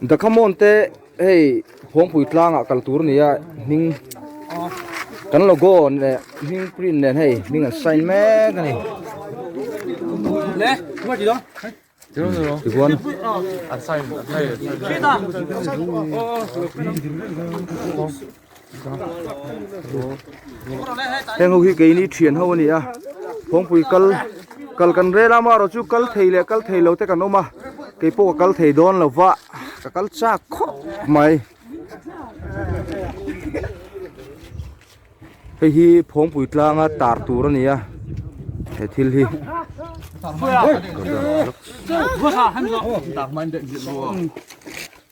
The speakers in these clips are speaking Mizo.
Dakhamon te hei phawngpui tlangah kal tur a ni a, hming kan logo leh hming print nen hei hming an sign mek a ni. Tichuan an sign hei. heng ho hi keini thian ho a ni a kawngpui kal kal kan rel a amarawh chu kal thei leh kal thei lote kan awm a keipawh ka kal thei dawn lo va ka kal chak khawp mai hei hi phawngpui tlanga tar tur a ni a he thil hi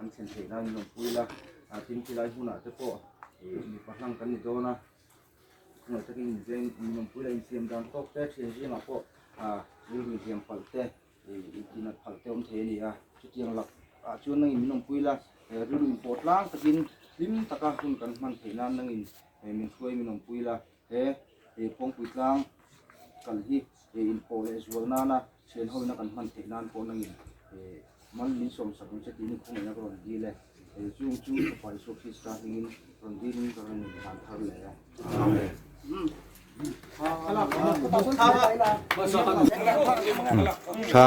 An thlen theih nan in awm pui la, tin ti lai hmunah te pawh mipa hlang kan ni dawn a, khawngawlh takin inzeng in awm pui la, infiam dan tawk te, thian zingah pawh thil min hliam palh te, intinat palh te awm thei a ni a, chutiang lak ah chuan nangin min awm pui la, rilru inpawh tlang takin hlim taka hun kan hman theih nan nangin min hruai min awm pui la. He ei pawngpui tlang kal hi ei inpawh leh zual nana thian hawina kan hman theih nan pawh nangin man min sawmsak ang che tiin i khawngaiha ka rawn dil e. Ei chung chu Fapa Isua Krista hmingin rawn dilin ka rawn indan thar leh a. Amen. Thla.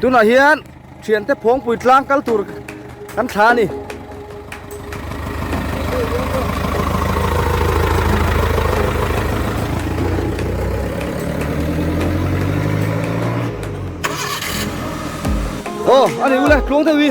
tunah hian thiante phawngpui tlang kal tur kan thla a ni aw a ni ula tluang deuh i